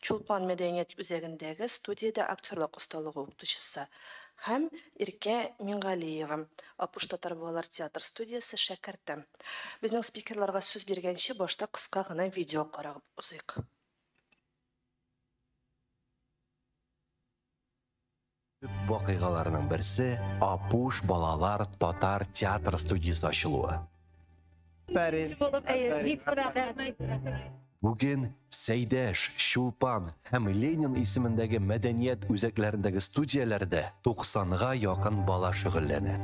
Чулпан мәдәният үзәгендәге студиядә актерлык осталыгы укытучысы һәм Иркә Миңгалиева, Апуш татар балалар театр студиясе шәкерте. Безнең спикерларга сүз биргәнче, башта кыска гына видео карап узыйк. Төп вакыйгаларның берсе Апуш балалар татар театр студиясе ачылуы. Бүген Сәйдәш, Чулпан һәм Ленин исемендәге мәдәният үзәкләрендәге студияләрдә 90га якын бала шөгыльләнә.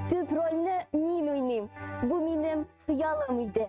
Төп рольне мин уйныйм. Бу минем хыялым иде.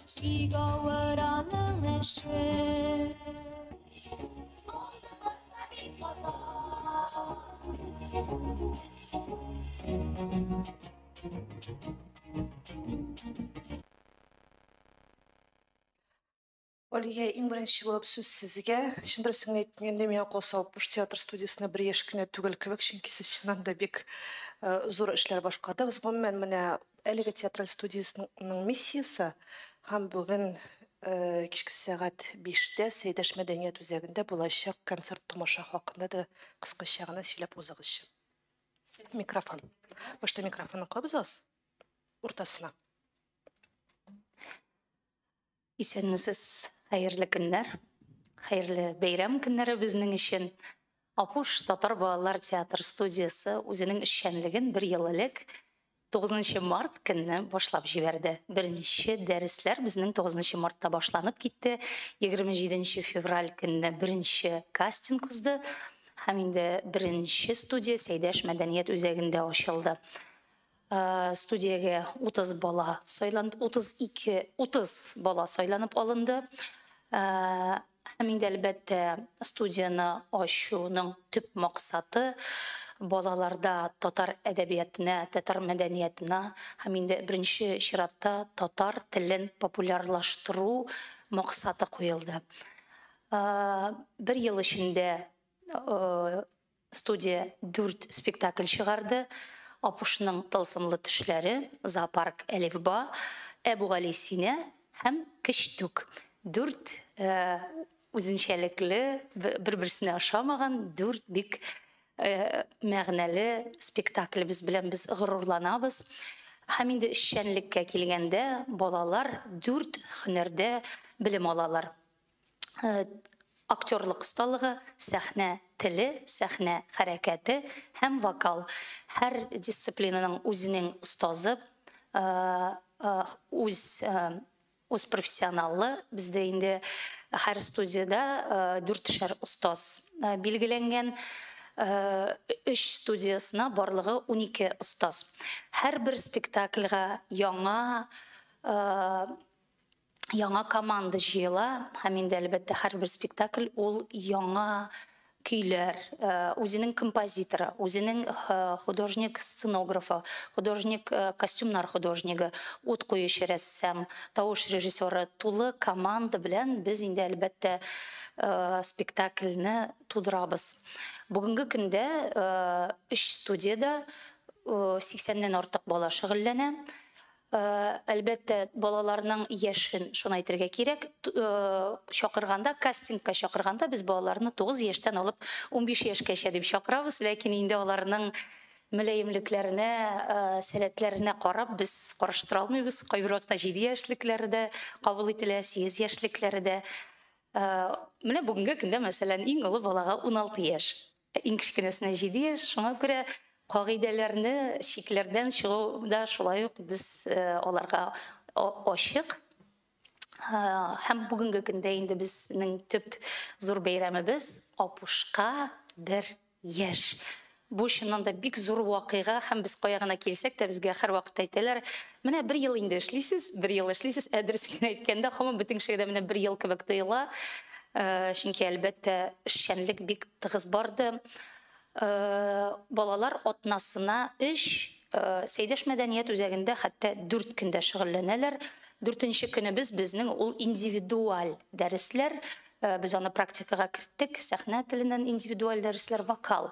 Алия, иң беренче булып сүз сезгә. Чын дөресен әйткәндә, миңа калса, Апуш театр студиясенә бер яшь кенә түгел кебек, чөнки сез чыннан да бик зур эшләр башкардыгыз. Гомумән, менә Әлеге театраль студиясенең миссиясе һәм бүген кичке сәгать биштә Сәйдәш мәдәният үзәгендә булачак концерт-томаша хакында да кыскача гына сөйләп узыгызчы. Микрофон. Башта микрофонны кабызыгыз. Уртасына. Исәнмесез, хәерле көннәр. Хәерле бәйрәм көннәре безнең өчен. Апуш татар балалар театр студиясе үзенең эшчәнлеген бер ел элек, 9 нчы март көнне башлап җибәрде. Беренче дәресләр безнең 9 нчы мартта башланып китте. 27 нче февраль көнне беренче кастинг узды һәм инде беренче студия Сәйдәш мәдәният үзәгендә ачылды. Студиягә 30 бала сайланып, 32, 30 бала сайланып алынды. Һәм инде әлбәттә, студияне ачуның төп максаты, балаларда татар әдәбиятына, татар мәдәниятына һәм инде беренче чиратта татар телен популярлаштыру максаты куелды. Бер ел эчендә Студия дүрт спектакль чыгарды, Апушның тылсымлы төшләре, Зоопарк Әлифба, Әбүгалисина һәм Кечтүк. Дүрт үзенчәлекле, бер-берсенә ошамаган дүрт бик мәгънәле спектаклебез белән без горурланабыз. Һәм инде эшчәнлеккә килгәндә, балалар дүрт һөнәрдә белем алалар. актерлык осталыгы, сәхнә теле, сәхнә хәрәкәте һәм вокал. Һәр дисциплинаның үзенең остазы, үз үз профессионалы. Бездә инде һәр студиядә дүртешәр остаз билгеләнгән. Өч студиясенә барлыгы унике остаз. Һәрбер спектакльгә яңа яңа команда җыела һәм инде әлбәттә һәрбер спектакль ул яңа көйләр э, үзенең композиторы үзенең э, художник сценографы художник э, костюмнар художнигы ут куючы рәссам тавыш режиссеры тулы команда белән без инде әлбәттә спектакльне тудырабыз бүгенге көндә өч студияда сиксәннән артык бала шөгыльләнә Әлбәттә, балаларның яшен, шуны әйтергә кирәк. Чакырганда, кастингка чакырганда, без балаларны 9 яшьтән алып 15 яшькәчә дип чакырабыз. Ләкин инде аларның мөлаемлекләренә, сәләтләренә карап, без карыштыра алмыйбыз. Кайбер вакытта 7 яшьлекләре дә кабул ителә, 8 яшьлекләре дә. Менә бүгенге көндә, мәсәлән, иң олы балага 16 яшь. Ә иң кечкенәсенә җиде яшь, шуңа күрә кагыйдәләрне, чикләрдән чыгу да шулай ук без аларга ачык. Һәм бүгенге көндә инде безнең төп зур бәйрәмебез, Апушка бер яшь. Бу чыннан да бик зур вакыйга һәм без кая гына килсәк тә, безгә һәрвакыт әйтәләр, Менә бер ел инде эшлисез, бер ел эшлисез, ә дөресен генә әйткәндә, һаман бөтен кешегә дә менә бер ел кебек тоела. Чөнки, әлбәттә, эшчәнлек бик тыгыз барды. Балалар атнасына өч Сәйдәш мәдәният үзәгендә хәтта дүрт көн дә шөгыльләнәләр. Дүртенче көнебез безнең ул индивидуаль дәресләр. Без аны практикага керттек, сәхнә теленнән индивидуаль дәресләр, вокал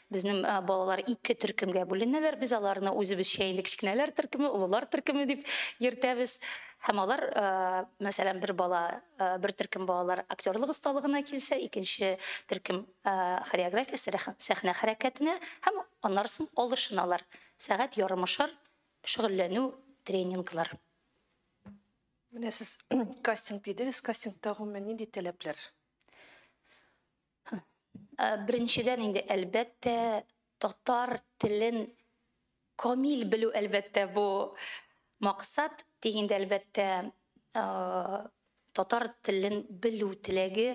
Безнең балалар ике төркемгә бүленәләр, без аларны үзебезчә инде кечкенәләр төркеме, олылар төркеме дип йөртәбез. Һәм алар, мәсәлән, бер бала, бер төркем балалар актерлык осталыгына килсә, икенче төркем хореография, сәхнә хәрәкәтенә һәм аннарсын алышыналар. Сәгать ярымышар шөгыльләнү, тренинглар. Менә сез кастинг дидегез, кастингта гомумән нинди таләпләр? Беренчедән инде, әлбәттә, татар телен камил белү, әлбәттә, бу максат. Тик инде, әлбәттә, татар телен белү теләге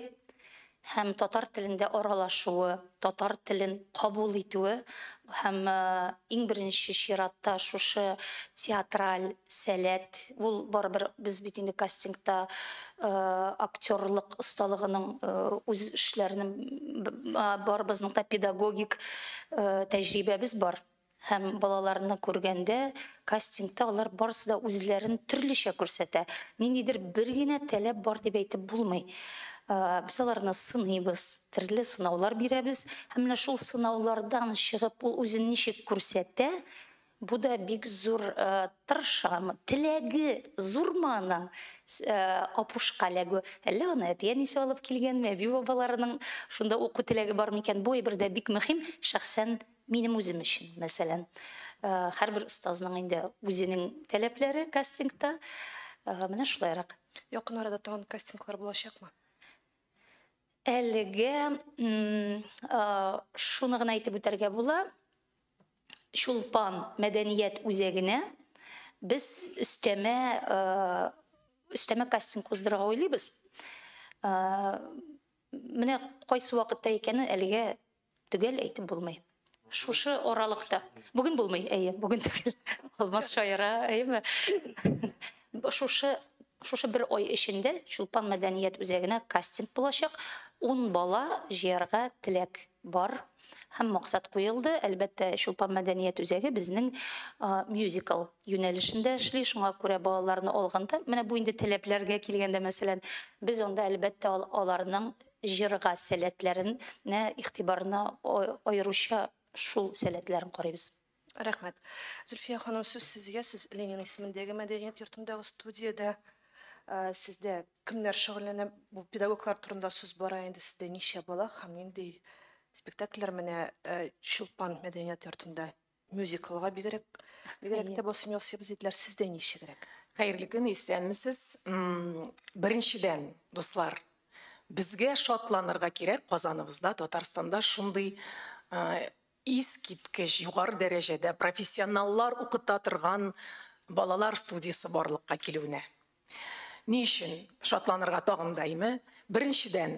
һәм татар телендә аралашуы, татар телен кабул итүе, Һәм иң беренче чиратта шушы театраль сәләт, ул барыбер без бит инде кастингта актерлык осталыгының үз эшләренең барыбызның да педагогик тәҗрибәбез бар. Һәм балаларны күргәндә Кастингта алар барысы да үзләрен төрлечә күрсәтә. Ниндидер бер генә таләп бар дип әйтеп булмый. Без аларны сыныйбыз, төрле сынаулар бирәбез һәм менә шул сынаулардан чыгып ул үзен ничек күрсәтә, бу да бик зур тырышамы, теләге зурмы аның Апушка эләгү, әллә аны әти-әнисе алып килгәнме, әби-бабаларының шунда уку теләге бармы икән, бу әйбер дә бик мөһим, шәхсән Минем үзем өчен, мәсәлән, һәрбер остазның инде үзенең таләпләре кастингта. Менә шулайрак. Якын арада тагын кастинглар булачакмы? Әлегә шуны гына әйтеп үтәргә була, Чулпан мәдәният үзәгенә без өстәмә кастинг уздырырга уйлыйбыз. Менә кайсы вакытта икәнен әлегә Төгәл әйтеп булмый. Шушы аралыкта. Бүген булмый, әйе, бүген түгел. Алмаз шаяра, әйеме? Шушы шушы бер ай эчендә Чулпан мәдәният үзәгенә кастинг булачак. 10 бала җыярга теләк бар һәм максат куелды. Әлбәттә, Чулпан мәдәният үзәге безнең мюзикл юнәлешендә эшли, шуңа күрә балаларны алганда, менә бу инде таләпләргә килгәндә, мәсәлән, без анда әлбәттә аларның Җырга сәләтләрен нә игътибарны аеруча шул сәләтләрен карыйбыз. Рәхмәт. Зөлфия ханым, сүз сезгә, сез Ленин исемендәге мәдәният йортындагы студиядә. Сездә кемнәр шөгыльләнә? Бу педагоглар турында сүз бара инде, сездә ничә бала һәм нинди спектакльләр менә Чулпан мәдәният йортында Мюзиклга бигрәк бигрәк тә басым ясыйбыз диделәр. Сездә ничегрәк? Хәерле көн, исәнмесез. Беренчедән, дуслар, безгә шатланырга кирәк, Казаныбызда, Татарстанда шундый искиткеч югары дәрәҗәдә профессионаллар укыта торган балалар студиясе барлыкка килүенә. Ни өчен шатланырга тагын да име? Беренчедән,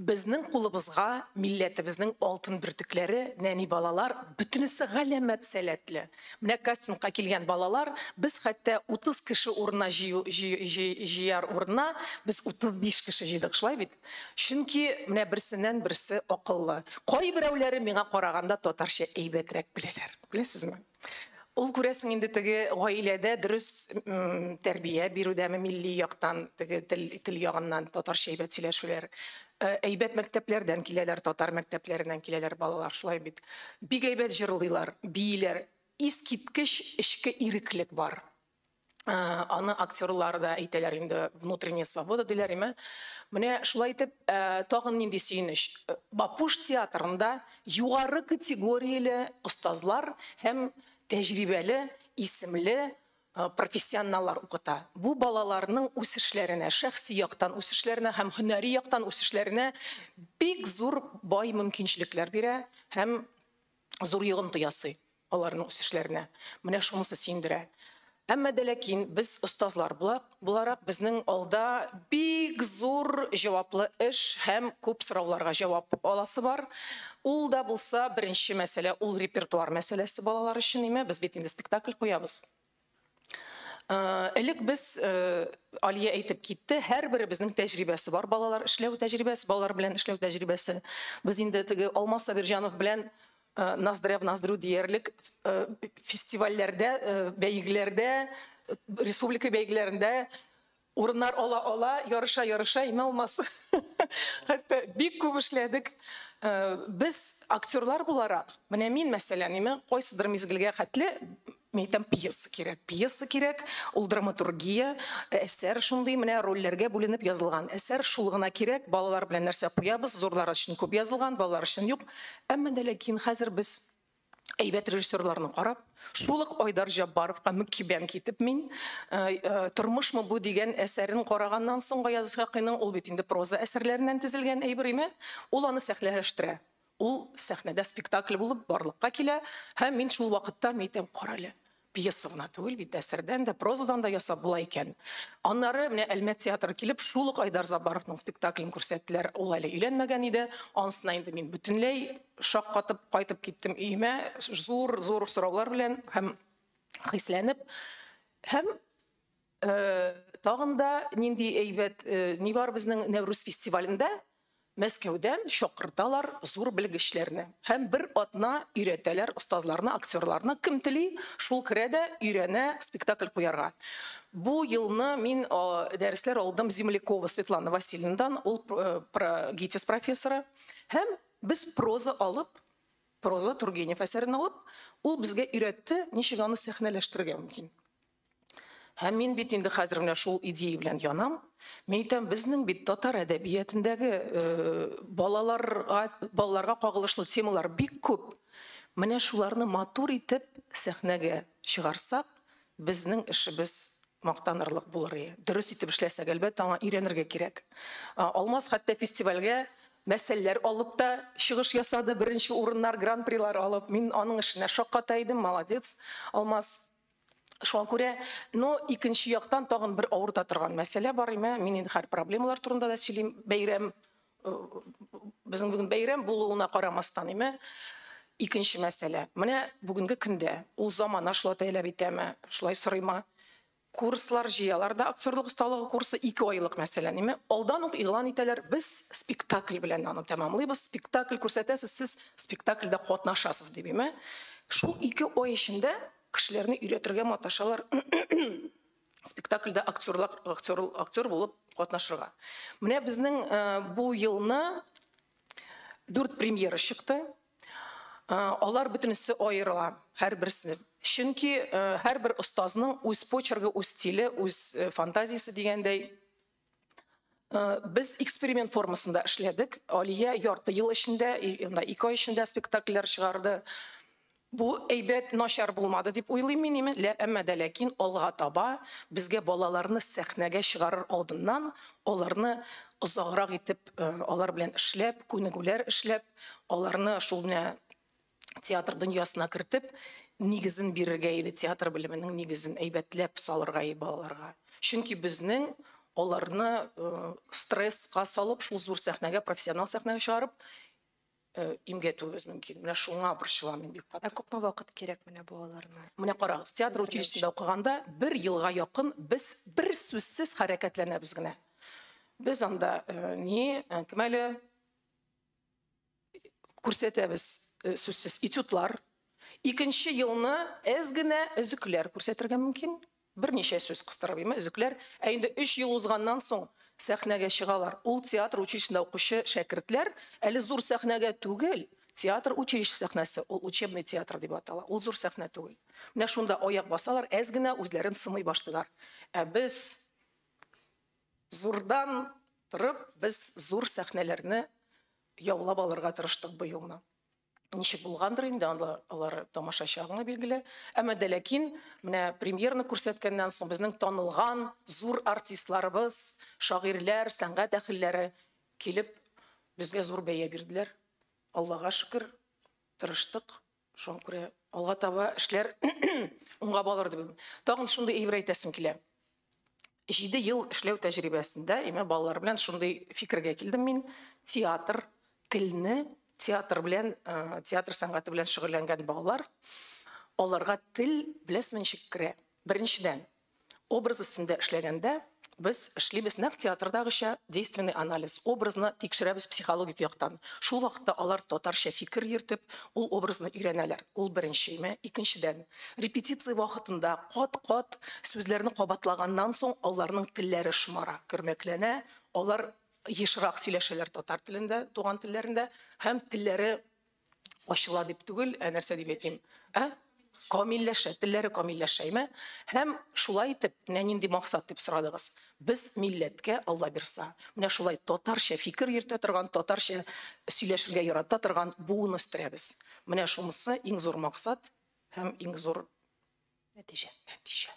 Безнең кулыбызга милләтебезнең алтын бөртекләре, нәни балалар, бөтенесе галәмәт сәләтле. Менә кастингка килгән балалар, без хәтта 30 кеше урынына җыю җыяр урынына, без 35 кеше җыйдык, шулай бит? Чөнки менә берсеннән берсе акыллы. Кайберәүләре миңа караганда татарча әйбәтрәк беләләр, беләсезме? Ул күрәсең инде теге гаиләдә дөрес тәрбия бирүдәме милли яктан, теге тел, тел ягыннан татарча әйбәт сөйләшүләр. Э, әйбәт мәктәпләрдән киләләр, татар мәктәпләреннән киләләр балалар, шулай бит. Бик әйбәт җырлыйлар, бииләр. Искиткеч эчке иреклек бар. Аны актерлар да әйтәләр инде, внутренняя свобода диләриме. Менә шулай итеп, тагын нинди сөенеч. Бапуш театрында югары категорияле остазлар һәм тәҗрибәле, исемле профессионаллар укыта. Бу балаларның үсешләренә, шәхси яктан үсешләренә һәм һөнәри яктан үсешләренә бик зур бай мөмкинчелекләр бирә һәм зур йогынты ясый. аларның үсешләренә. Менә шунысы сөендерә. Әмма дә ләкин без остазлар буларак, безнең алда бик зур җаваплы эш һәм күп сорауларга җавап аласы бар. Ул да булса, беренче мәсьәлә, ул репертуар мәсьәләсе балалар өчен, әйме? Без бит инде спектакль куябыз. Элек без Алия әйтеп китте, һәрберебезнең тәҗрибәсе бар, балалар эшләү тәҗрибәсе, балалар белән эшләү тәҗрибәсе. Без инде теге Алмаз Сабирҗанов белән ноздря в ноздрю диярлек фестивальләрдә, бәйгеләрдә, республика бәйгеләрендә Урыннар ала ала, ярыша ярыша име алмас. Хәтта бик күп эшләдек. Без актерлар буларак, менә мин мәсәлән, име кайсыдыр мизгелгә хәтле мин әйтәм пьеса кирәк. Пьеса кирәк, ул драматургия, әсәр шундый, менә рольләргә бүленеп язылган әсәр, шул гына кирәк, балалар белән нәрсә куябыз, зурлар өчен күп язылган, балалар өчен юк. Әмма дә ләкин хәзер без әйбәт режиссерларны карап, шул ук Айдар Җаббаровка мөкибән китеп мин э, э, Тормышмы бу дигән әсәрен караганнан соң Гаяз Исхакыйның ул бит инде проза әсәрләреннән тезелгән әйбер име, ул аны сәхнәләштерә. Ул сәхнәдә спектакль булып барлыкка килә һәм мин шул вакытта мәйтәм, карале, Пьеса гына түгел бит, әсәрдән дә, прозадан да ясап була икән. Аннары менә Әлмәт театры килеп, шул ук Айдар Забаровның спектаклен күрсәттеләр. Ул әле өйләнмәгән иде. Анысына инде мин бөтенләй шаккатып кайтып киттем өемә, зур-зур сораулар белән һәм хисләнеп. Һәм Тагын да нинди әйбәт, ни бар безнең Нәүрүз фестивалендә? Мәскәүдән чакырталар зур белгечләрне һәм бер атна өйрәтәләр остазларны, актерларны. Кем тели, шул керә дә өйрәнә спектакль куярга. Бу елны мин дәресләр алдым Землякова Светлана Васильевнадан, ул ГИТИС профессоры. Һәм без проза алып, проза Тургенев әсәрен алып, ул безгә өйрәтте, ничек аны сәхнәләштерергә мөмкин. Һәм мин бит инде хәзер менә шул идея белән янам. Мин әйтәм, безнең бит татар әдәбиятендәге э, балаларга, балаларга кагылышлы темалар бик күп. Менә шуларны матур итеп сәхнәгә чыгарсак, безнең эшебез мактанырлык булыр иде. Дөрес итеп эшләсәк, әлбәттә, аңа өйрәнергә кирәк. Алмаз хәтта фестивальгә мәсьәләләр алып та чыгыш ясады, беренче урыннар, гран-прилар алып. Мин аның эшенә шакката идем, молодец, Алмаз. Шуңа күрә, но икенче яктан тагын бер авырта торган мәсьәлә бар име, мин инде хәр проблемалар турында да сөйлим, бәйрәм, э, безнең бүген бәйрәм булуына карамастан име, икенче мәсьәлә. Менә бүгенге көндә ул замана шулай тәләп итәме, шулай сорыйма, курслар җыялар да актерлык осталыгы курсы ике айлык мәсәлән име алдан ук игълан итәләр без спектакль белән аны тәмамлыйбыз спектакль күрсәтәсез сез спектакльдә катнашасыз дип име Шул ике ай эчендә кешеләрне өйрәтергә маташалар спектакльдә актерлар, актер, актер булып катнашырга. Менә безнең бу елны дүрт премьера чыкты. Алар бөтенесе аерыла, һәрберсе. Чөнки һәрбер остазның үз почерге, үз стиле, үз фантазиясе дигәндәй. Э, без эксперимент формасында эшләдек алия ярты ел эчендә анда ике ай эчендә спектакльләр чыгарды бу әйбәт начар булмады дип уйлыйм мин имин әмма дә ләкин алга таба безгә балаларны сәхнәгә чыгарыр алдыннан аларны озаграк итеп э, алар белән эшләп күнегүләр эшләп аларны шул менә театр дөньясына кертеп, нигезен бирергә иде, театр белеменең нигезен әйбәтләп салырга иде балаларга. Чөнки безнең аларны э, стресска салып, шул зур сәхнәгә, профессионал сәхнәгә чыгарып, э, имгәтүебез мөмкин. Менә шуңа борчылам мин бик каты. Ә күпме вакыт кирәк менә балаларына? Менә карагыз, театр Әзерләү училищесында укыганда бер елга якын без бер сүзсез хәрәкәтләнәбез генә. Без анда э, ни, э, кем әле күрсәтәбез э, сүзсез этюдлар. Икенче елны әз генә өзекләр күрсәтергә мөмкин. Берничә сүз кыстырып имә өзекләр. Ә инде 3 ел узганнан соң сәхнәгә чыгалар. Ул театр училищесында укучы шәкертләр әле зур сәхнәгә түгел, театр училище сәхнәсе, ул учебный театр дип атала. Ул зур сәхнә түгел. Менә шунда аяк басалар, әз генә үзләрен сымый башлыйлар. Ә без Зурдан торып, без зур сәхнәләрне яулап алырга тырыштык быелны. Ничек булгандыр инде, анда алары тамашачыга гына билгеле. Әмма дә ләкин, менә премьерны күрсәткәннән соң, безнең танылган зур артистларыбыз, шагыйрьләр, сәнгать әхелләре килеп, безгә зур бәя бирделәр. Аллага шөкер, тырыштык, Шуңа күрә алга таба эшләр уңга балыр дип уйлыйм. Тагын шундый әйбер әйтәсем килә. Җиде ел эшләү тәҗрибәсендә имә балалар белән шундый фикергә килдем мин. Театр, телне, театр белән, э, театр сәнгате белән шөгыльләнгән балалар, аларга тел, беләсезме, ничек керә? Беренчедән, Образ өстендә эшләгәндә, без эшлибез нәкъ театрдагыча, действенный анализ, образны тикшерәбез психологик яктан. Шул вакытта алар татарча фикер йөртеп, ул образны өйрәнәләр. Ул беренчеме? Икенчедән, репетиция вакытында кат-кат сүзләрне кабатлаганнан соң, аларның телләре шомара, көрмәкләнә, алар ешрак сөйләшәләр татар телендә, туган телләрендә һәм телләре ачыла дип түгел, ә нәрсә дип әйтим, ә? Камилләшә, телләре камилләшәйме? Һәм шулай итеп, менә нинди максат дип сорадыгыз. Без милләткә Алла бирса, менә шулай татарча фикер йөртә торган, татарча сөйләшергә ярата торган буын үстерәбез. Менә шунысы иң зур максат һәм иң зур нәтиҗә. Нәтиҗә.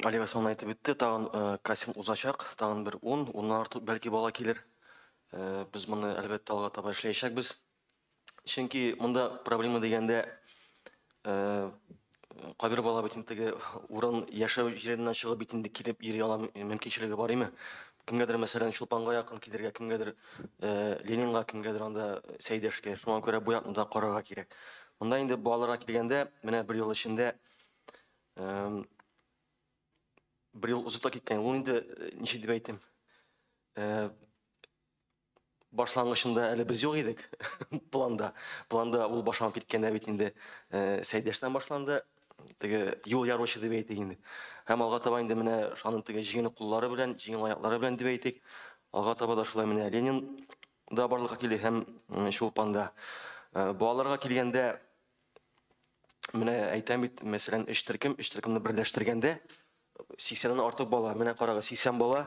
Олег Осман әйтеп үтте, тагын э, кастинг узачак, тагын бер ун, уннан артык бәлки бала килер. Э, Без моны әлбәттә алга таба эшләячәкбез. Чөнки монда проблема дигәндә э, кайбер бала бит инде теге урын яшәү җиреннән чыгып бит инде килеп йөри ала мөмкинчелеге бар име? Кемгәдер мәсәлән Чулпанга якын килергә, кемгәдер э, Ленинга, кемгәдер анда Сәйдәшкә. Шуңа күрә бу якны да карарга кирәк. Монда инде балаларга килгәндә, менә бер ел эчендә Бер ел узып та киткән, ул инде ничек дип әйтим? Башлангычында әле без юк идек планда. Планда ул башланып киткәндә бит инде Сәйдәштән башланды. Теге юл яручы дип әйтик инде. Һәм алга таба инде менә шаның теге җиңел куллары белән, җиңел аяклары белән дип әйтик. Алга таба да шулай менә Ленин да барлыкка килде һәм Чулпанда. Балаларга килгәндә, Менә әйтәм бит, мәсәлән, өч төркем, өч төркемне берләштергәндә 80 ннан артык бала, менә карагыз, 80 бала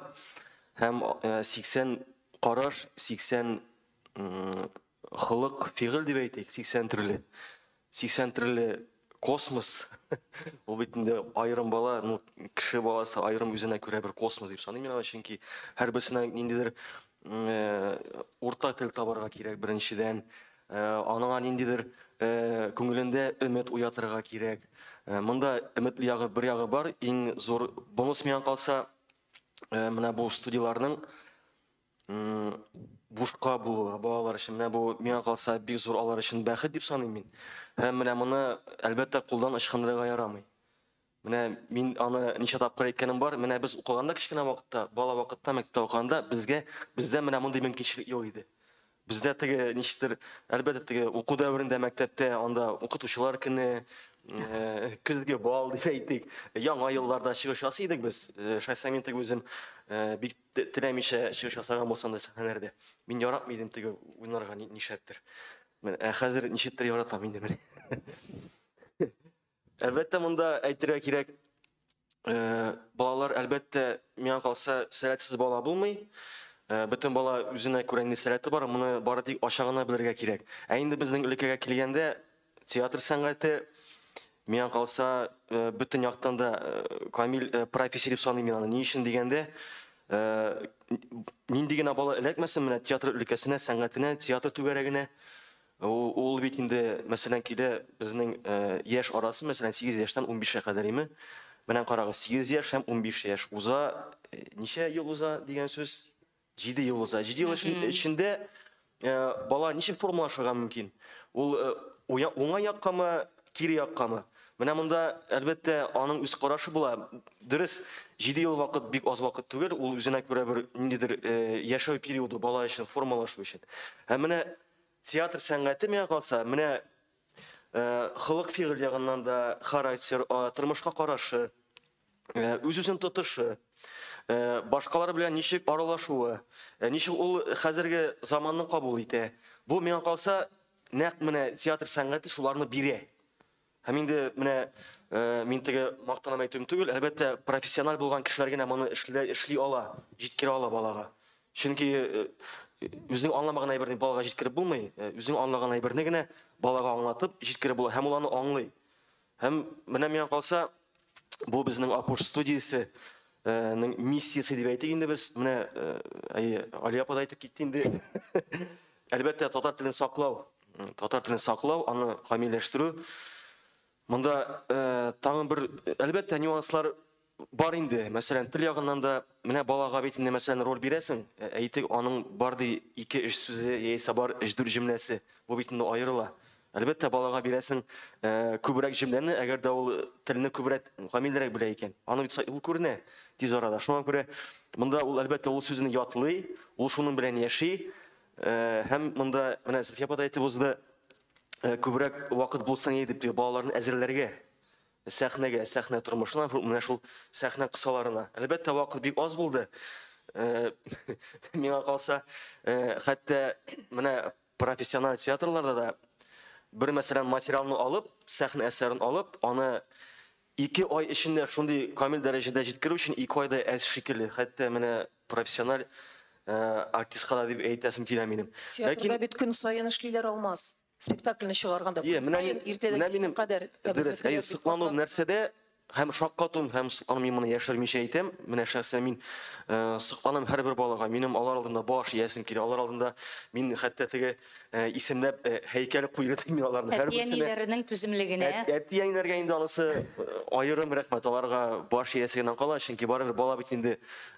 һәм 80 караш, 80 холык, фигыль дип әйтик, 80 төрле. 80 төрле космос. Ул бит инде аерым бала, ну, кеше баласы аерым үзенә күрә бер космос дип саныйм мин, чөнки һәрберсенә ниндидер урта тел табарга кирәк беренчедән, Аныңа ниндидер күңелендә өмет уятырга кирәк. Монда өметле ягы бер ягы бар, иң зур бонус миңа калса, менә бу студияләрнең бушка булуы балалар өчен. Менә бу миңа калса бик зур алар өчен бәхет дип саныйм мин. Һәм менә моны, әлбәттә, кулдан ычкындырырга ярамый. Менә мин аны ничә тапкыр әйткәнем бар. Менә без укыганда кечкенә вакытта, бала вакытта мәктәптә укыганда безгә бездә менә мондый мөмкинчелек юк иде. Бездә теге ничектер, әлбәттә теге уку дәверендә мәктәптә анда укытучылар көне, э, көзге бал дип әйтик, яңа елларда чыгыш ясый идек без. Э, Шайса мин теге үзем э, бик те- теләмичә чыгыш ясаган булсам да сәхнәләрдә. Мин яратмый идем теге уйнарга ни- нишләптер. Менә, Ә хәзер ничектер яратам инде менә. Әлбәттә, монда әйтергә кирәк, балалар, әлбәттә, миңа калса, сәләтсез бала булмый. Бөтен бала үзенә күрә нинди сәләте бар, моны бары тик ача гына белергә кирәк. Ә инде безнең өлкәгә килгәндә, театр сәнгате, миңа калса, бөтен яктан да камил профессия дип саныйм мин аны. Ни өчен дигәндә, нинди генә бала эләкмәсен менә театр өлкәсенә, сәнгатенә, театр түгәрәгенә, Ул бит инде, мәсәлән, килә безнең яшь арасы, мәсәлән, 8 яшьтән 15 кә кадәр име? Менә карагыз, 8 яшь һәм 15 яшь уза, ничә ел уза дигән сүз? 7 ел уза. 7 ел эчендә бала ничек формалашырга мөмкин? Ул уңай яккамы, кире яккамы? Менә монда, әлбәттә, аның үз карашы була. Дөрес, 7 ел вакыт бик аз вакыт түгел, ул үзенә күрә бер ниндидер яшәү периоды бала өчен, формалашу өчен. Һәм менә Театр сәнгате миңа калса, менә холык-фигыль ягыннан да характер, тормышка карашы, үз-үзен тотышы, башкалар белән ничек аралашуы, ничек ул хәзерге заманны кабул итә. Бу, миңа калса, нәкъ менә театр сәнгате шуларны бирә. Һәм инде менә мин теге мактанам әйтүем түгел, әлбәттә, профессиональ булган кешеләр генә моны эшли, эшли ала, җиткерә ала балага. Чөнки үзең аңламаган әйберне балага җиткереп булмый, үзең аңлаган әйберне генә балага аңлатып җиткереп була һәм ул аны аңлый. Һәм менә миңа калса, бу безнең Апуш студиясе ның миссиясе дип әйтик инде без. Менә әйе, Алия апа да әйтеп китте инде. Әлбәттә, татар телен саклау, татар телен саклау, аны камилләштерү. Монда э, тагын бер әлбәттә нюанслар бар инде. Мәсәлән, тел ягыннан да менә балага бит инде мәсәлән роль бирәсең. Э, әйтик, аның бар ди ике эш сүзе яисә бар эш дүр җөмләсе. Бу бит инде аерыла. Әлбәттә, балага бирәсең э, күбрәк җөмләне, әгәр дә ул телне күбрәк камиллерәк белә икән. Аны бит ул күренә тиз арада. Шуңа күрә монда ул әлбәттә ул сүзне ятлый, ул шуның белән яши. Һәм монда менә Зөлфия апа да әйтеп узды, күбрәк вакыт булса ни дип, балаларны әзерләргә сәхнәгә, сәхнә тормышына, менә шул сәхнә кысаларына. Әлбәттә, вакыт бик аз булды. Миңа калса, хәтта менә профессиональ театрларда да бер мәсәлән материалны алып, сәхнә әсәрен алып, аны Ике ай эчендә шундый камил дәрәҗәдә җиткерү өчен ике ай да әз шикелле, хәтта менә профессиональ артистка да дип әйтәсем килә минем. Театрда бит көн саен эшлиләр, Алмаз. Спектакльне чыгарганда көн саен иртәдән кичкә кадәр. Әйе, соклану нәрсәдә, һәм шаккатуым, һәм соклану, мин моны яшермичә әйтәм, менә шәхсән мин сокланам һәрбер балага, минем алар алдында баш иәсем килә, алар алдында мин хәтта теге Э, исемләп э, һәйкәл куйган мин аларны һәр берсенә. Әти-әниләренең түземлегенә. Әти-әниләргә инде анысы э, аерым рәхмәт. Аларга баш иясе генә кала, чөнки барыбер бала бит инде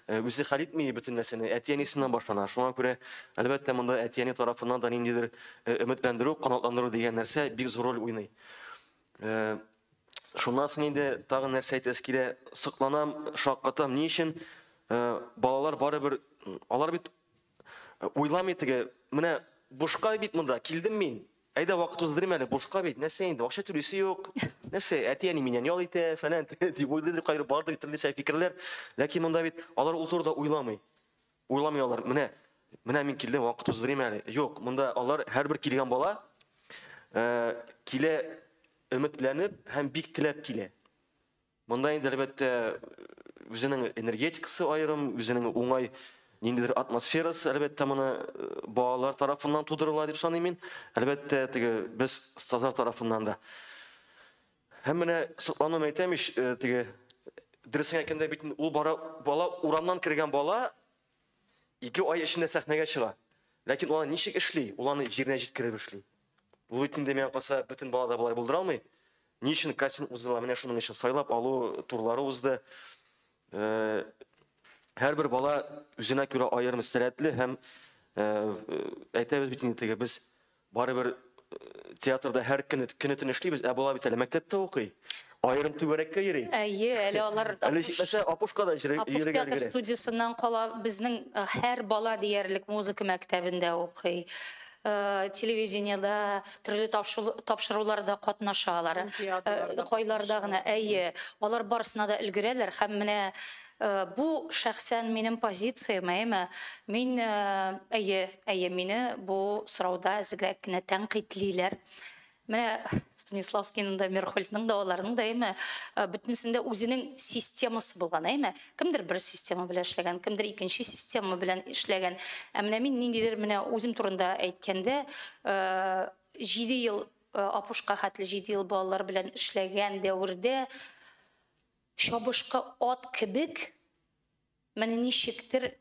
үзе хәл итми бөтен нәрсәне. Әти-әнисеннән башлана. Шуңа күрә, әлбәттә, монда әти-әни тарафыннан да ниндидер өметләндерү, канатландыру дигән нәрсә бик зур роль уйный. Шуннан соң инде тагын нәрсә әйтәсе килә, сокланам, шаккатам. Ни өчен балалар барыбер алар бит Уйламый теге, менә бушка бит монда, килдем мин. Әйдә вакыт уздырыйм әле, бушка бит. Нәрсә инде, акча түлисе юк. Нәрсә, әти-әни миннән ял итә, фәлән, дип уйлыйдыр, кайры бардыр төрлесә фикерләр. Ләкин монда бит алар ул турыда уйламый. Уйламый алар. Менә, менә мин килдем, вакыт уздырыйм әле. Юк, монда алар һәрбер килгән бала э, килә өметләнеп һәм бик теләп килә. Монда инде, әлбәттә, үзенең энергетикасы аерым, үзенең уңай ниндидер атмосферасы, әлбәттә, моны э, балалар тарафыннан тудырыла дип саныйм мин. Әлбәттә, теге без стазар тарафыннан да. Һәм менә соклануым әйтәм ич, э, теге дөресен әйткәндә бит ул бара бала урамнан кергән бала ике ай эчендә сәхнәгә чыга. Ләкин ул ничек эшли? Ул аны җиренә җиткереп эшли. Луитин дә миңа калса бөтен бала да болай булдыра алмый. Ни өчен кастинг уздылар? Менә шуның өчен сайлап алу турлары узды. Э, һәрбер бала үзенә күрә аерым сәләтле һәм э, әйтәбез бит инде теге без барыбер э, театрда һәр көн көн төн эшлибез, ә бала бит әле мәктәптә укый. Аерым түгәрәккә йөри. Әйе, әле алар Әле Апуш- җитмәсә, Апушка да йөри- Апуш йөрергә театр өлгерә. студиясеннән кала, безнең һәр бала диярлек музыка мәктәбендә укый. Э, Телевидениедә, төрле тапшу- тапшыруларда катнаша алар. Һәм театрларда Э, Кайларда гына, катнаша. әйе. Алар барысына да өлгерәләр һәм менә э, бу шәхсән минем позициям, әйеме? Мин, э, әйе, әйе, мине бу сорауда әзегрәк кенә тәнкыйтьлиләр. Менә Станиславскийның да, Мерхольдның да, аларның да әйме, бөтенесендә үзенең системасы булган, әйме. Кемдер бер система белән эшләгән, кемдер икенче система белән эшләгән. Ә менә мин ниндидер менә үзем турында әйткәндә, җиде ел апушка хәтле җиде ел балалар белән эшләгән дәвердә чабышкы ат кебек менә ничектер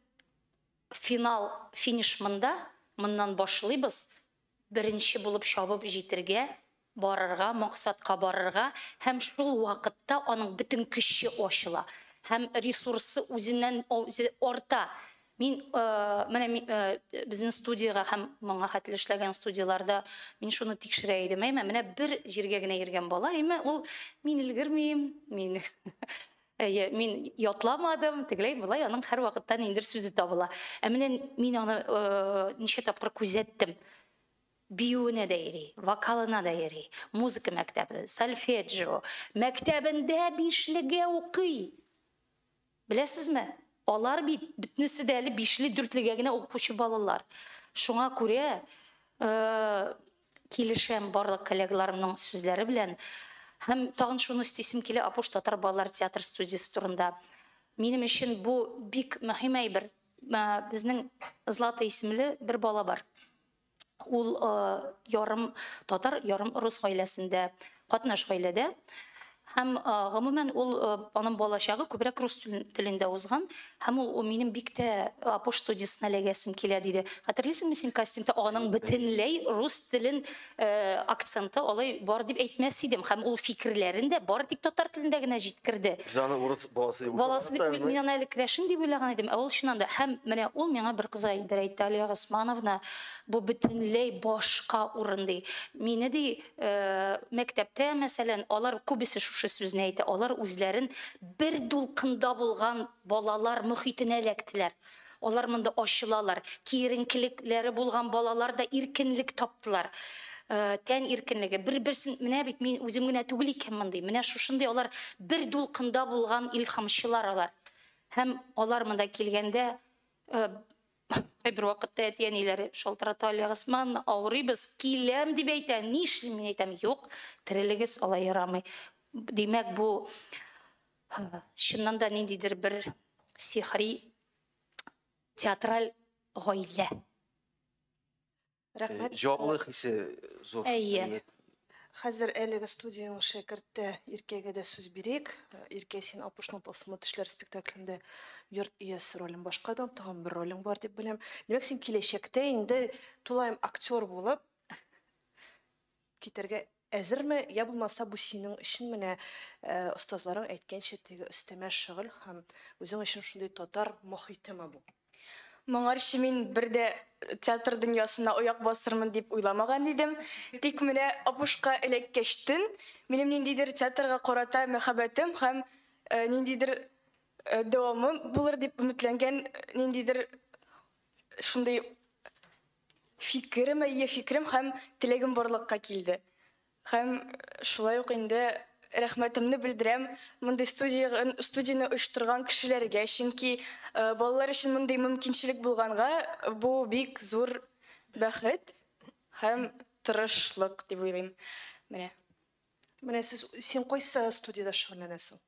финал, финиш монда, моннан башлыйбыз, Беренче булып чабып җитергә, барырга, максатка барырга һәм шул вакытта аның бөтен көче ачыла һәм ресурсы үзеннән үзе арта. Мин менә безнең студиягә һәм моңа хәтле эшләгән студияләрдә мин шуны тикшерә идем, әйме, менә бер җиргә генә йөргән бала, әйме, ул мин өлгермим, мин Әйе, мин ятламадым, тегеләй болай аның һәрвакытта ниндер сүзе табыла. Ә менә мин аны э, ничә тапкыр күзәттем. Биюенә дә йөри, вокалына да йөри, музыка мәктәбе, сольфеджио, мәктәбендә бишлегә укый. Беләсезме? Алар бит бөтенесе дә әле бишле, дүртлегә генә укучы балалар. Шуңа күрә э, Килешәм барлык коллегаларымның сүзләре белән. Һәм тагын шуны өстисем килә Апуш татар балалар театр студиясе турында. Минем өчен бу бик мөһим әйбер. Безнең Злата исемле бер бала бар. Ул ярым татар, ярым рус гаиләсендә Катнаш гаиләдә һәм гомумән ул аның балачагы күбрәк рус телендә узган һәм ул минем бик тә апош студиясенә эләгәсем килә диде. Хәтерлисеңме син кастингта аның бөтенләй рус телен акценты алай бар дип әйтмәс идем һәм ул фикерләрен дә бар тик татар телендә генә җиткерде. Без аны урыс баласы дип баласы дип мин аны әле крәшен дип уйлаган идем, ә ул чыннан да һәм менә ул миңа бер кызга әйбер әйтте, Алия Госмановна, бу бөтенләй башка урын ди. Мине ди мәктәптә, мәсәлән, алар күбесе шушы сүзне әйтә, алар үзләрен бер дулкында булган балалар мөхитенә эләктеләр. Алар монда ачылалар. Киеренкелекләре булган балалар да иркенлек таптылар. Тән иркенлеге. Бер-берсен, менә бит мин үзем генә түгел икән мондый. Менә шушындый алар бер дулкында булган илһамчылар алар. Һәм алар монда килгәндә Кайбер вакытта әти-әниләре шалтырата, Алия Госмановна, авырыйбыз, киләм, дип әйтә, нишлим? Мин әйтәм, юк, терелегез, алай ярамый. Димәк, бу чыннан да ниндидер бер сихри театраль гаилә. Рәхмәт. Җанлы хисе зур. Әйе. Хәзер әлеге студиянең шәкерте Иркәгә дә сүз бирик. Иркә, син Апушның тылсымлы тешләр спектаклендә йорт иясе ролен башкардың, тагын бер ролең бар дип беләм. Димәк, син киләчәктә инде тулаем актер булып китәргә Әзерме, я булмаса бу синең өчен менә остазларың әйткәнчә теге өстәмә шөгыль һәм үзең өчен шундый татар мохитеме бу? Моңарчы мин бер дә театр дөньясына аяк басырмын дип уйламаган идем, тик менә Апушка эләккәчтен, минем ниндидер театрга карата мәхәббәтем һәм ниндидер дәвамы булыр дип өметләнгән ниндидер шундый Фикерем, әйе, фикерем һәм теләгем барлыкка килде. Һәм шулай ук инде рәхмәтемне белдерәм мондый студиягн, студияне оештырган кешеләргә, чөнки балалар өчен мондый мөмкинчелек булганга, бу бик зур бәхет һәм тырышлык дип уйлыйм. Менә. Менә сез, син кайсы студиядә шөгыльләнәсең?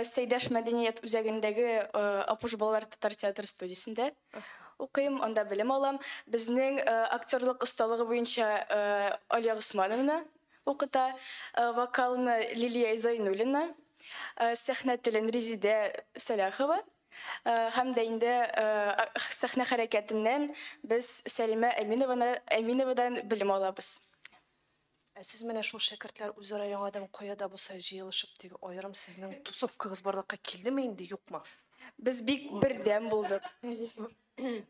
Сәйдәш мәдәният үзәгендәге Апуш балалар татар театры студиясендә укыйм, анда белем алам. Безнең актерлык осталыгы буенча Алия Госмановна укыта, вокалны Лилия Зайнуллина, сәхнә телен Резидә Сәлахова һәм дә инде сәхнә хәрәкәтеннән без Сәлимә Әминованы Әминовадан белем алабыз. Ә сез менә шул шәкертләр үзара яңадан кая да булса җыелышып теге аерым сезнең тусовкагыз барлыкка килдеме инде, юкмы? Без бик бердәм булдык.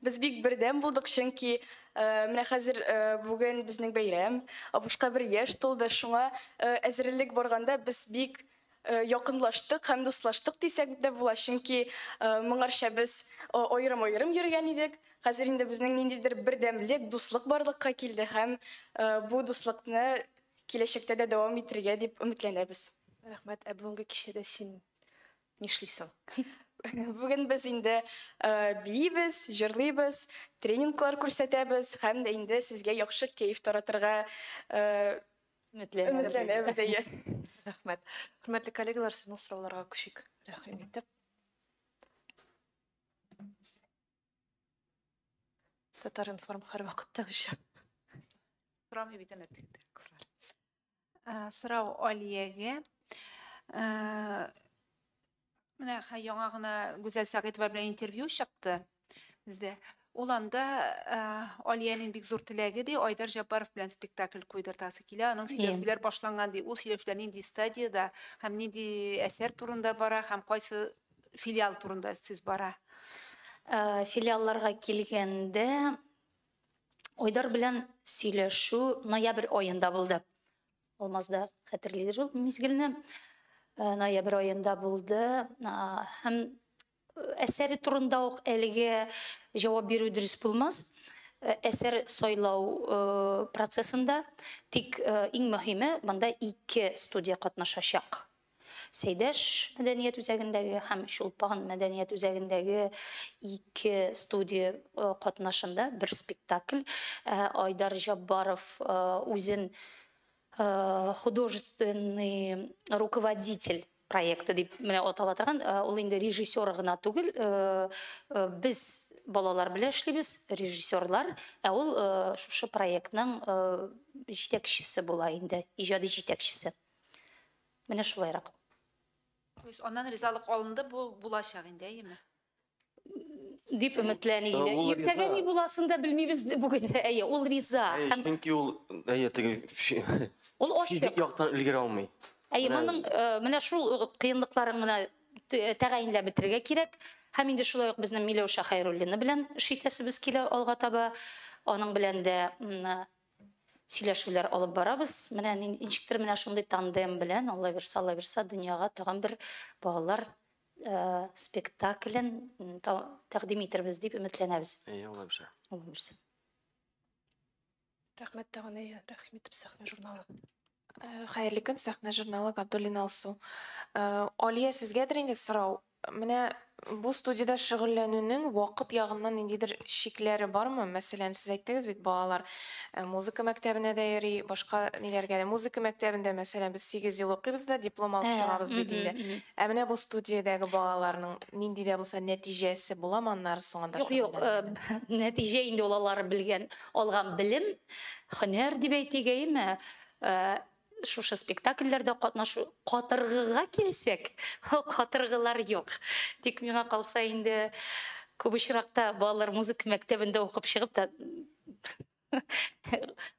Без бик бердәм булдык, чөнки менә хәзер бүген безнең бәйрәм, Апушка бер яшь тулды, шуңа әзерлек барганда без бик якынлаштык һәм дуслаштык дисәк дә була, чөнки моңарча без аерым-аерым йөргән идек. Хәзер инде безнең ниндидер бердәмлек, дуслык барлыкка килде һәм бу дуслыкны киләчәктә дә дәвам итергә дип өметләнәбез. Рәхмәт. Ә бүгенге кичәдә син нишлисең? Бүген без инде биибез, җырлыйбыз, тренинглар күрсәтәбез һәм дә инде сезгә яхшы кәеф таратырга Өметләнәбез. Өметләнәбез, әйе. Рәхмәт. Хөрмәтле коллегалар, сезнең сорауларга күчик. Рәхим итеп. Татар-информ һәрвакытта үчә. Сорамый бит әнә тик кызлар. Сорау Алиягә. Менә хәй яңа гына Гүзәл Сәгыйтова белән интервью чыкты бездә. Ул анда э, Алиянең бик зур теләге ди, Айдар Җаббаров белән спектакль куйдыртасы килә. Аның сөйләшүләр башланган ди. Ул сөйләшүләр нинди стадияда һәм нинди әсәр турында бара һәм кайсы филиал турында сүз бара? Э, Филиалларга килгәндә, Айдар белән сөйләшү ноябрь аенда булды. Алмаз да хәтерлидер ул мизгелне. Э, ноябрь аенда булды. Һәм э, әсәре турында ук әлеге җавап бирү дөрес булмас. Э, әсәр сайлау процессында тик иң мөһиме монда ике студия катнашачак. Сәйдәш мәдәният үзәгендәге һәм Чулпан мәдәният үзәгендәге ике студия катнашында бер спектакль Айдар Җаббаров үзен художественный руководитель проекты дип менә атала торган, ул инде режиссер гына түгел, без балалар белән эшлибез, режиссерлар, ә ул шушы проектның җитәкчесе була инде, иҗади җитәкчесе. Менә шулайрак. То есть аннан ризалык алынды, бу булачак инде, әйеме? Дип өметләни инде. Ул риза. Иртәгә ни буласын да белмибез бүген. Әйе, ул риза. Әйе, Һәм чөнки ул әйе теге фи- ул ачык. физик яктан өлгерә алмый. Әйе, Менә- моның э, менә шул э, кыенлыкларын гына т- э, тәгаенләп бетерергә кирәк. Һәм инде шулай ук безнең Миләүшә Хәйруллина белән эш итәсебез килә алга таба. Аның белән дә м, Сөйләшүләр алып барабыз. Менә нин, ничектер менә шундый тандем белән аллабирса, аллабирса дөньяга тагын бер балалар спектаклен та тәкъдим итербез дип өметләнәбез. Әйе, аллабирса. Аллабирса. Рәхмәт тагын, әйе, рәхим итеп сәхнә журналы. Хәерле көн, Сәхнә журналы, Габдуллин Алсу. Алия, сезгәдер инде сорау. Менә бу студиядә шөгыльләнүнең вакыт ягыннан ниндидер чикләре бармы? Мәсәлән, сез әйттегез бит, балалар музыка мәктәбенә дә йөри, башка ниләргә дә. Музыка мәктәбендә, мәсәлән, без сигез ел укыйбыз да диплом алып чыгабыз бит инде. Ә менә бу студиядәге балаларның нинди дә булса нәтиҗәсе буламы аннары соңында? Юк, юк, нәтиҗә инде ул алар белгән. Алган белем, һөнәр дип әйтик, әйеме? Шушы спектакльләрдә катнашу. Катыргыга килсәк, катыргылар юк. Тик миңа калса инде, күп очракта балалар музыка мәктәбендә укып чыгып та,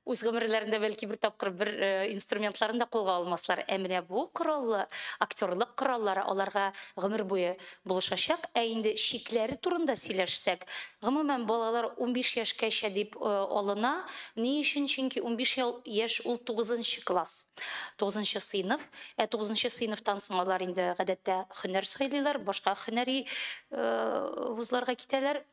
үз гомерләрендә бәлки бер тапкыр бер инструментларын да кулга алмаслар. Ә менә бу кораллы, актерлык кораллары аларга гомер буе булышачак. Ә инде чикләре турында сөйләшсәк, гомумән, балалар унбиш яшькәчә дип алына. Ни өчен? Чөнки унбиш яшь ул тугызынчы класс, тугызынчы сыйныф. Ә тугызынчы сыйныфтан соң алар инде, гадәттә, һөнәр сайлыйлар, башка һөнәри вузларга китәләр.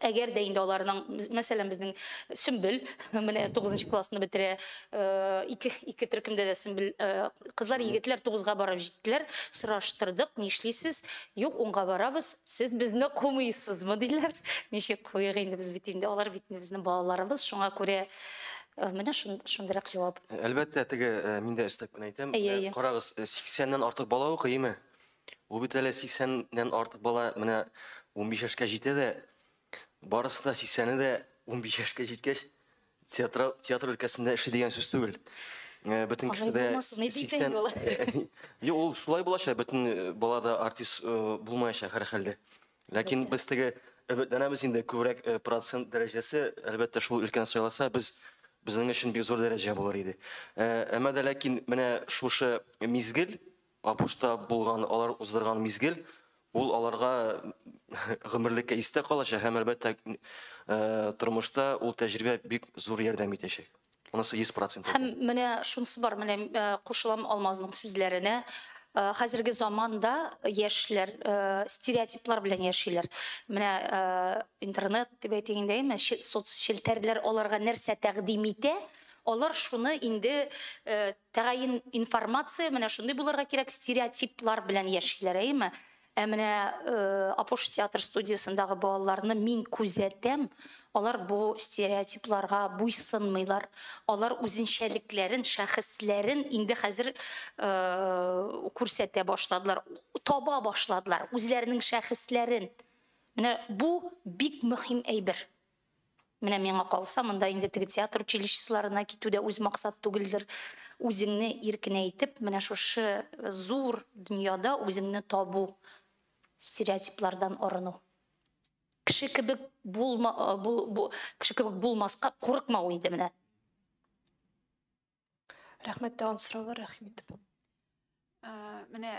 әгәр дә инде аларның мәсәлән безнең сөмбел менә тугызынчы классны бетерә э, ике ике төркемдә дә сөмбел э, кызлар егетләр тугызга барып җиттеләр сораштырдык нишлисез юк унга барабыз сез безне кумыйсызмы диләр ничек куйык инде без бит инде алар бит безнең балаларыбыз шуңа күрә Э, менә шундыйрак җавап әлбәттә теге э, мин дә өстәп кенә әйтәм э, карагыз сиксәннән артык бала укый име Ул бит әле 80 нән артык бала менә унбиш яшькә җитә дә, барысы да 80 не дә унбиш яшькә җиткәч, театра- театр өлкәсендә эшли дигән сүз түгел. Э, Бөтен кеше Алай дә булмасын иде икән 80 юлы. Юк, ул шулай булачак, бөтен э, бала да артист э, булмаячак һәрхәлдә. Ләкин без теге өметләнәбез инде, күбрәк э, процент дәрәҗәсе, әлбәттә, шул өлкәне сайласа, без безнең өчен бик зур дәрәҗә булыр иде. Э, Әмма дә ләкин менә шушы мизгел, Апушта булган алар уздырган мизгел, ул аларга гомерлеккә истә калачак һәм, әлбәттә, тормышта ул тәҗрибә бик зур ярдәм итәчәк. Монысы 100 процент. Һәм менә шунысы бар, менә кушылам Алмазның сүзләренә, хәзерге заманда яшьләр стереотиплар белән яшиләр. Менә интернет дип әйтик инде, әйме, соцчелтәрләр аларга нәрсә тәкъдим итә, алар шуны инде Тәгаен информация менә шундый булырга кирәк, стереотиплар белән яшиләр, әйеме? Ә менә Апош театр студиясендагы балаларны мин күзәтәм, алар бу стереотипларга буйсынмыйлар, алар үзенчәлекләрен, шәхесләрен инде хәзер күрсәтә башладылар, таба башладылар үзләренең шәхесләрен. Менә бу бик мөһим әйбер. Менә миңа калса, монда инде теге театр училищесларына китү дә үз максат түгелдер. Үзеңне иркенәйтеп, менә шушы зур дөньяда үзеңне табу, стереотиплардан арыну. Кеше кебек булма, бу, бу, кеше кебек булмаска курыкмау инде менә. Рәхмәт тагын сораулар рәхим итеп. Менә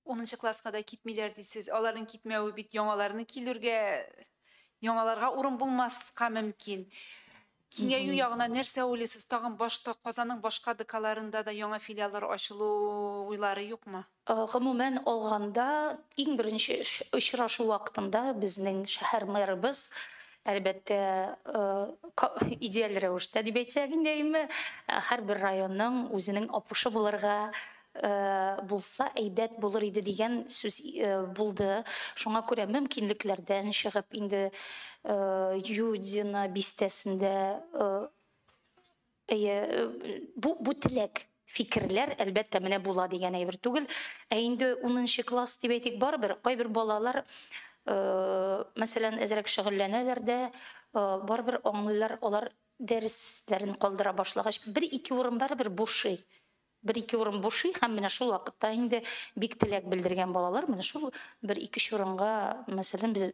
10 класска да китмиләр дисез. Аларның китмәве бит яңаларны килүргә, яңаларга урын булмаска мөмкин. Киңәю ягына нәрсә уйлыйсыз? Тагын башка Казанның башка ДКларында да яңа филиаллар ачылу уйлары юкмы? Гомумән алганда, иң беренче очрашу вакытында безнең шәһәр мэрыбыз, әлбәттә, идеаль рәвештә дип әйтсәк инде, әйеме, һәрбер районның үзенең Апушы булырга булса әйбәт булыр иде дигән сүз булды. Шуңа күрә мөмкинлекләрдән чыгып инде Юдино бистәсендә Әйе, бу бу теләк, фикерләр, әлбәттә, менә була дигән әйбер түгел. Ә инде 10 класс дип әйтик, барыбер кайбер балалар мәсәлән, әзрәк шөгыльләнәләр дә, барыбер аңлыйлар, алар дәресләрен калдыра башлагач, бер-ике урын барыбер бушый. Бер-ике урын бушый һәм менә шул вакытта инде бик теләк белдергән балалар менә шул бер ике чорынга, мәсәлән, без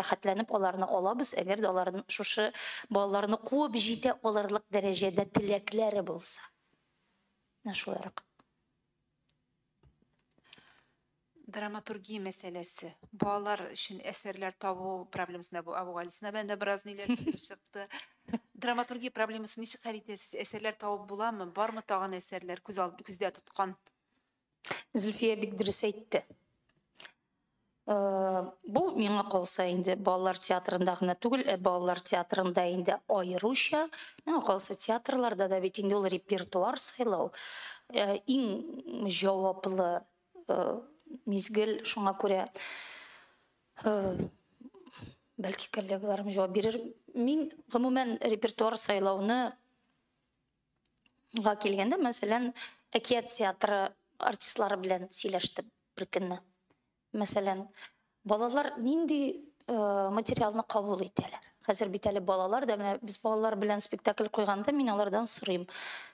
рәхәтләнеп аларны алабыз, әгәр дә алар шушы балаларны куып җитә алырлык дәрәҗәдә теләкләре булса. Менә шулай рәхәт. Драматургия мәсьәләсе. Балалар өчен әсәрләр табу проблемасында бу Абугалисина белән дә бераз ниләр килеп чыкты. Драматургия проблемасын ничек хәл итәсез? Әсәрләр табып буламы? Бармы тагын әсәрләр күз алды күздә тоткан? Зөлфия бик дөрес әйтте. Э, бу миңа калса инде балалар театрында гына түгел ә балалар театрында инде аеруча миңа калса театрларда да бит инде ул репертуар сайлау э, иң җаваплы мизгел, шуңа күрә бәлки коллегаларым җавап бирер. Мин гомумән репертуар сайлауны га килгәндә, мәсәлән, әкият театры артистлары белән сөйләштем бер көнне. Мәсәлән, Балалар нинди э, материалны кабул итәләр? Хәзер бит әле балалар да менә без балалар белән спектакль куйганда мин алардан сорыйм.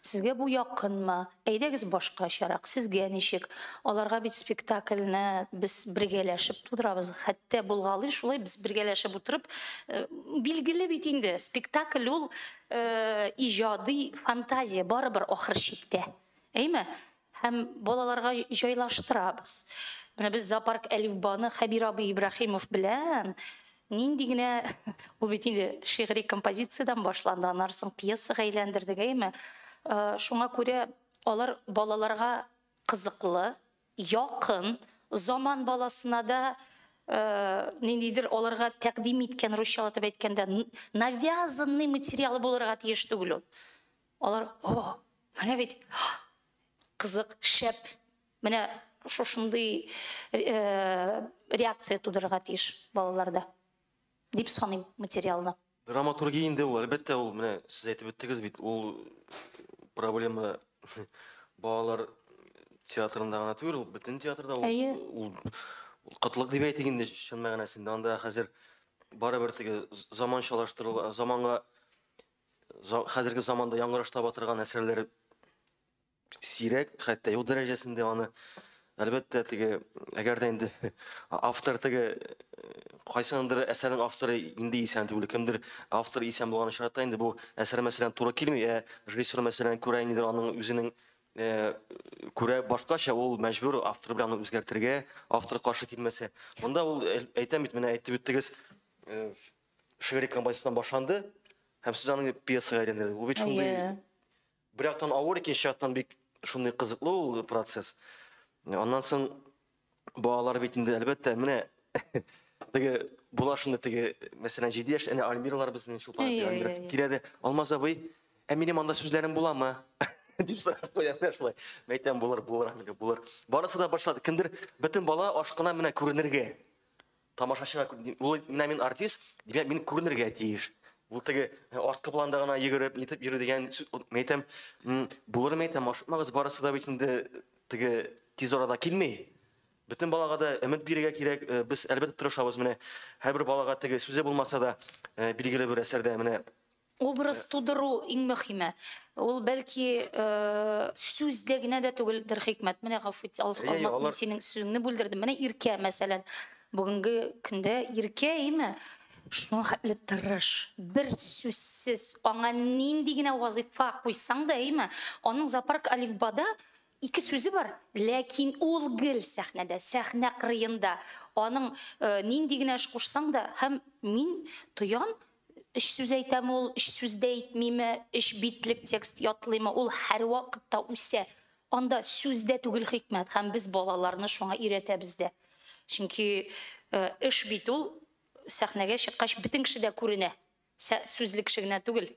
Сезгә бу якынмы? Әйдәгез башкачарак. Сезгә ничек? Аларга бит спектакльне без бергәләшеп тудырабыз. Хәтта булгалый шулай без бергәләшеп утырып э, билгеле бит инде спектакль ул э, иҗади фантазия барыбер ахыр чиктә. Әйме? Һәм балаларга җайлаштырабыз. Менә без зоопарк Әлифбаны Хәбир абый Ибраһимов белән нинди генә ул бит инде шигъри композициядән башланды, аннары соң пьесага әйләндердек, әйеме? Шуңа күрә алар балаларга кызыклы, якын, заман баласына да ниндидер аларга тәкъдим иткән, русчалатып әйткәндә, навязанный материал булырга тиеш түгел ул. Алар, О, менә бит кызык, шәп, менә шушындый реакция тудырырга тиеш балаларда, дип саныйм материалны. Драматургия инде ул, әлбәттә, ул менә сез әйтеп үттегез бит, ул проблема балалар театрында гына түгел, ул бөтен театрда, ул кытлык дип әйтик инде чын мәгънәсендә. Анда хәзер барыбер теге заманчалаштыру, заманга хәзерге заманда яңгыраш таба торган әсәрләр сирәк, хәтта юк дәрәҗәсендә аны әлбәттә теге әгәр дә инде автор теге кайсындыр әсәрнең авторы инде исән түгел кемдер автор исән булган очракта инде бу әсәр мәсәлән туры килми ә режиссер мәсәлән күрә инде аның үзенең күрә башкача ул мәҗбүр автор белән үзгәртергә автор каршы килмәсә монда ул әйтәм бит менә әйтеп үттегез шигъри композициядан башланды һәм сүз аның пьесага әйләнде. Бу бит шундый бер яктан авыр, икенче яктан бик шундый кызыклы ул процесс. Аннан соң балалар бит инде әлбәттә менә теге була шундый теге мәсәлән 7 яшь әнә Альмиралар безнең шул Альмира килә дә Алмаз абый, ә минем анда сүзләрем буламы? дип сорап куя менә шулай. Мәйтәм булыр, булыр, булыр. Барысы да башлады. Кемдер бөтен бала ашкына менә күренергә. тамашачыга ул менә мин артист, димәк, мин күренергә тиеш. Ул теге э, арткы планда гына йөгереп, нитеп йөрү дигән мин әйтәм, булыр мин әйтәм, ашыкмагыз, барысы да бит инде теге тиз арада килми. Бөтен балага да өмет бирергә кирәк. Э, без әлбәттә тырышабыз. Менә һәрбер балага теге сүзе булмаса да, э, билгеле бер әсәрдә менә Образ тудыру иң мөхиме. Ул бәлки сүздә генә дә түгелдер хикмәт. Менә гафу ит, Алмаз, мин синең сүзеңне бүлдердем. Менә Иркә, мәсәлән, бүгенге көндә Иркә, әйеме? Шуңа хәтле тырыш, бер сүзсез, аңа нинди генә вазыйфа куйсаң да, әйеме? Аның зоопарк Алифбада ике сүзе бар, ләкин ул гел сәхнәдә, сәхнә кырыенда. Аның нинди генә эш кушсаң да, һәм мин тоям, Өч сүз әйтәме ул, өч сүз дә әйтмиме, өч битлек текст ятлыймы, ул һәрвакытта үсә. Анда сүз дә түгел хикмәт, һәм без балаларны шуңа өйрәтәбез дә. Чөнки э, эш бит ул сәхнәгә чыккач бөтен кеше дә күренә. Сүзле кеше генә түгел.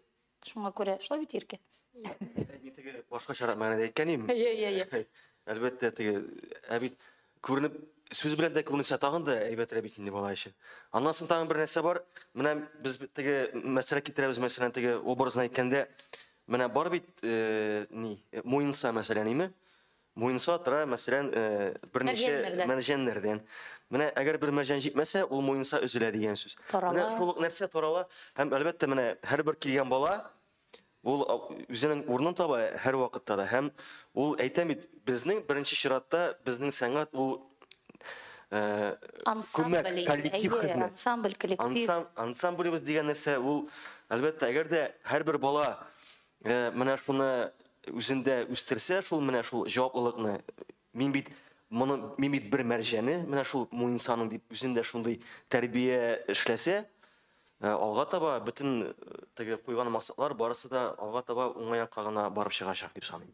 Шуңа күрә шулай бит иркә. Мин теге башкачарак мәгънәдә әйткән идем. Йә, йә, йә. Әлбәттә, теге ә бит күренеп сүз белән дә күренсә тагын да әйбәтрәк бит инде бала өчен. Аннан соң тагын бер нәрсә бар. Менә без теге мәсьәлә китерәбез, мәсәлән, теге образны әйткәндә, менә бар бит, э, ни, э, муенса мәсәлән, име? Муенса тора, мәсәлән, берничә Мәрҗәннәрдән. мәрҗәннәрдән. Менә әгәр бер мәрҗән җитмәсә, ул муенса өзелә дигән сүз. Тарала. Менә шул ук нәрсә тарала. Һәм әлбәттә, менә һәрбер килгән бала ул а, үзенең урынын таба һәрвакытта да. Һәм ул әйтә бит, безнең беренче чиратта безнең сәнгать ул э, Ансамбль, күмәк, коллектив әйе, хезмәт. ансамбль, коллектив. Ансам, ансамблебез дигән нәрсә ул, әлбәттә, әгәр дә һәрбер бала менә шуны үзендә үстерсә, шул менә шул җаваплылыкны, мин бит моны мин бит бер мәрҗәне, менә шул муенсаның дип үзендә шундый тәрбия эшләсә, алга таба бөтен теге куйган максатлар барысы да алга таба уңай якка гына барып чыгачак дип саныйм.